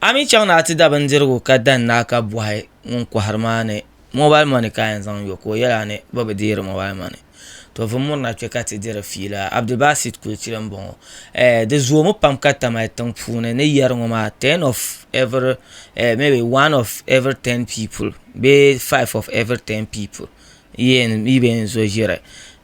A mi chaŋ ni a ti da bindirigu ka dan ni a ka bɔhi ŋun kɔhiri maa ni mobal mɔni ka yɛn zaŋ yo ka o yɛli a ni bɛ bi deeri mobal mɔni. To vum mirina kpe ka ti diri fiila. Abdulbasit Kulchili m-bɔŋɔ. Eh, di zoomi pam ka Tamale tiŋ puuni ni yɛri ŋɔ maa ten of every, eh, maybe one of every ten people bee five of every ten people. Yen yi be n zo ʒiri.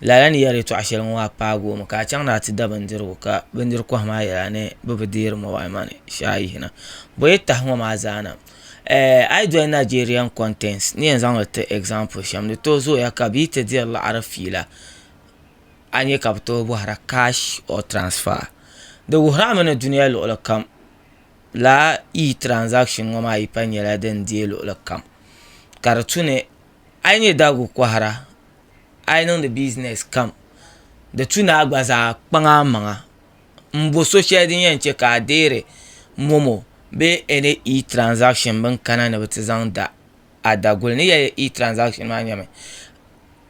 Lala ni yɛri yɛtɔɣ shɛli ŋɔ a paagi o mi ka a chaŋ ni a ti da bindirigu ka bindiri kɔhi maa yɛli a ni bɛ bi deeri mobile money shee a yihina. Bo yi tahi ŋɔ maa zaa na eh a yi doli Nigerian contents n ni yɛn zaŋ li ti example shɛm di tooi zooya ka bɛ yi ti diri liɣiri fiila a nya ka bɛ tooi bɔhira cash or transfer. Di wuhiri a mi ni dunia luɣili kam lala e-transaction ŋɔ maa yi pa nyɛla din deei luɣili kam ka di tu ni a yi nyɛ daguli kɔhira a yi niŋdi bizinɛs kam di tu ni a gba zaa kpaŋ a maŋa m-bo so shɛli din yɛn che ka a deeri momo bee ɛni E-tiraanzakishin bɛn kana ni bɛ ti zaŋ da a daguli ni yɛli E-tiraanzakishin maa nyɛmi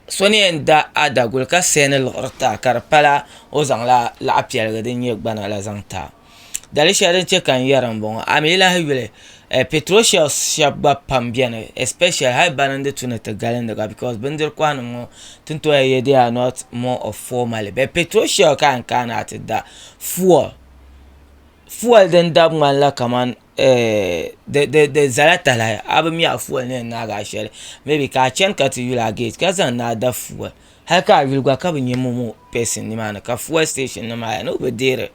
so ni yɛn da a daguli ka sɛni liɣiri ti a ka di pala o zaŋla laɣ' piɛlli din nyɛ gbana la zaŋ ti a Dali shɛli din chɛ ka n yɛra m-bɔŋɔ, a mi yi lahi yuli eh, petrol shells shɛba gba pam beni especially hali bana n-di tu ni ti galindi ka because bindiri kɔhinim ŋɔ ti ni tooi yɛ they are not more of formally but petrol shell ka a ni kana a ti da fuel, fuel din dab ŋmanila kamani eh, di zala talahi a bi mi a fuel ni yɛn naagi a shɛli maybe ka a chani ka ti yuli a gate ka zaŋ ni a da fuel hali ka a yuli gba ka bi nya momo person nimaani ka fuel station nim maa yaa ni o bi deeri.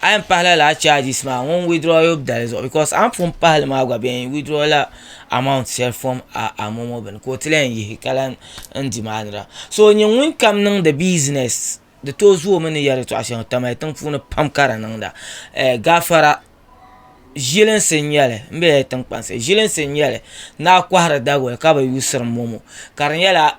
A yɛn pahila lala charges maa ŋun withdraw yub dali zuɣu because a ni pun pahili maa gba bɛ yɛn withdraw la amount shɛli from a a momo bini ka o ti lahi yihi ka lan n demand ra so nyɛ ŋun kam niŋdi business di tooi zooi o mi ni yɛri yɛtɔɣa shɛŋa kamali tiŋ puuni pam ka di niŋda eh, gaafara ʒilinsi n nyɛli n bɛ yɛli tiŋkpansi ʒilinsi n nyɛli ni a kɔhiri Daguli ka bi yuusiri momo ka di nyɛla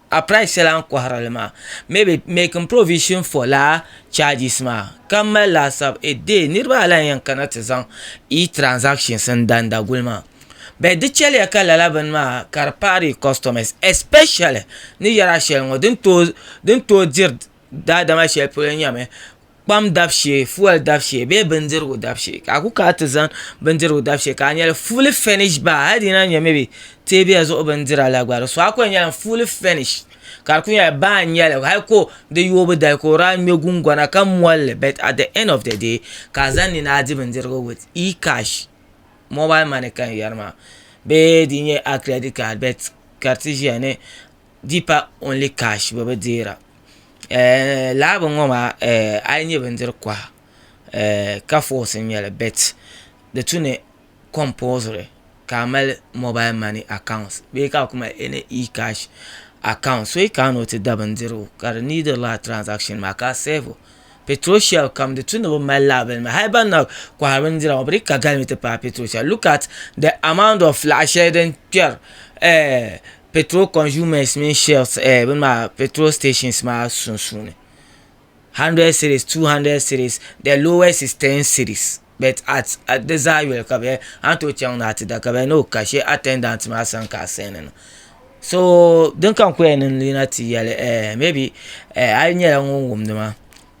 A price shɛli a ni kɔhiri li maa maybe making provision for laa charges maa ka m mali laasabu a day niriba alayɛn yɛn kana ti zaŋ i transactions n dan Daguli maa but di chɛliya ka lala bini maa ka di paai di customers especially ni yɛri a shɛli ŋɔ din tooi diri daadama shɛli polo nyɛmi kpam dabu shee fuel dabu shee bee bindirigu dabu shee ka a ku kana ti zaŋ bindirigu dabu shee ka a nyɛli fully furnished bar hali di yi lahi nyɛ maybe teebuya zuɣu bindira la gba di suɣa ku yɛn nyɛla fully furnished ka di ku nyɛla bar n nyɛli hali ka di yoobu dali ka o daa ŋmɛ gungona ka molli but at the end of the day ka a zaŋ ni ni a di bindirigu with Ecash mobile money ka n yɛri maa bee di nyɛ a credit card but ka di ti ʒiya ni Deepa only cash bɛ bi deera lala bini ŋɔ maa a yi nyɛ bindiri koha ka force n nyɛli but di tu ni compulsory ka a mali mobile money account bee ka a ku mali any e cash account so yi kana ni o ti da bindirigu ka di need lala transaction maa ka a serve o petrol shell kam di tu ni bi mali lala bini maa hali ban na kohari bindira ŋɔ bi dii ka galimi ti paagi petrol shell look at the amount of laɣa shɛli din kperi. petrol consumers mini shells eh, bin maa petrol stations maa sunsuuni 100 series 200 series the lowest is 10 series but at at di zaa yoli ka bɛ an to chaŋ na ti da ka bɛ no ka she attendant maa san ka sani na so din kan koya ni yina ti yali eh maybe eh a nyɛla ŋun wumdi ma